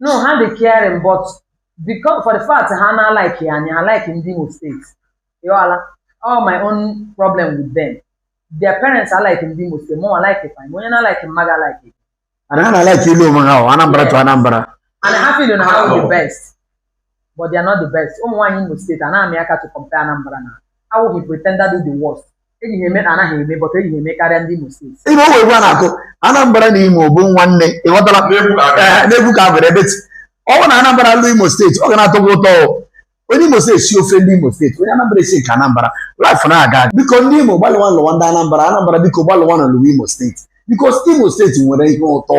no ha dị caring but because for the fact ha na like anyị ha like ndị Imo steeti ị ghọla all my own problem with them their parents are like ndị Imo steeti mụnwa like fa onye na like m ma ga like and ha na like ịlụ onwe ha o Anambra to Anambra and ha feel na ha bụ the best but they are not the best ụmụ nwaanyị Imo steeti anaghị aka to compare Anambra na awụghị pretender do the worst eji ha eme na anaghị eme but eji ha eme karịa ndị Imo steeti ebe o nwere egwu a na-akụ Anambra na Imo bụ nwanne ị ghọtara n'egwu ka a bụrụ but ọ bụ na Anambra lụ Imo steeti ọ ga na-atọgbu ụtọ onye Imo steeti sie ofe ndị Imo steeti onye Anambra esie nke Anambra life na-aga biko ndị Imo gbalịwanụ lụwa ndị Anambra Anambra biko gbalịwanụ lụwa Imo steeti biko Imo steeti nwere ihe ụtọ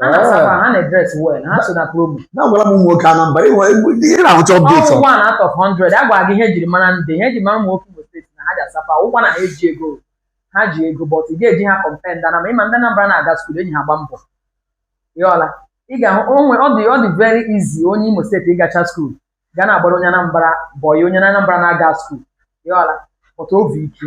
ha na-asakwa ha na-edress well ha so na problem na-agwara m ụmụ nwoke Anambra ịnwe ị na-ahụcha update ọ wụ one out of 100 a gwara gị ihe ejiri mara ndị ihe eji mara ụmụ nwoke Imo steeti na ha ji asapa ụkwa na ha eji ego ha ji ego but ị ga-eji ha compare ndị Anambra ị ma ndị Anambra na-aga skuul eji ha agba mbọ ị ghọla ị ga-ahụ onwe ọ dị ọ dị very easy onye Imo steeti ịgacha skuul ga na-agbara onye Anambra bọyị onye Anambra na-aga skuul ị ghọla but obi ike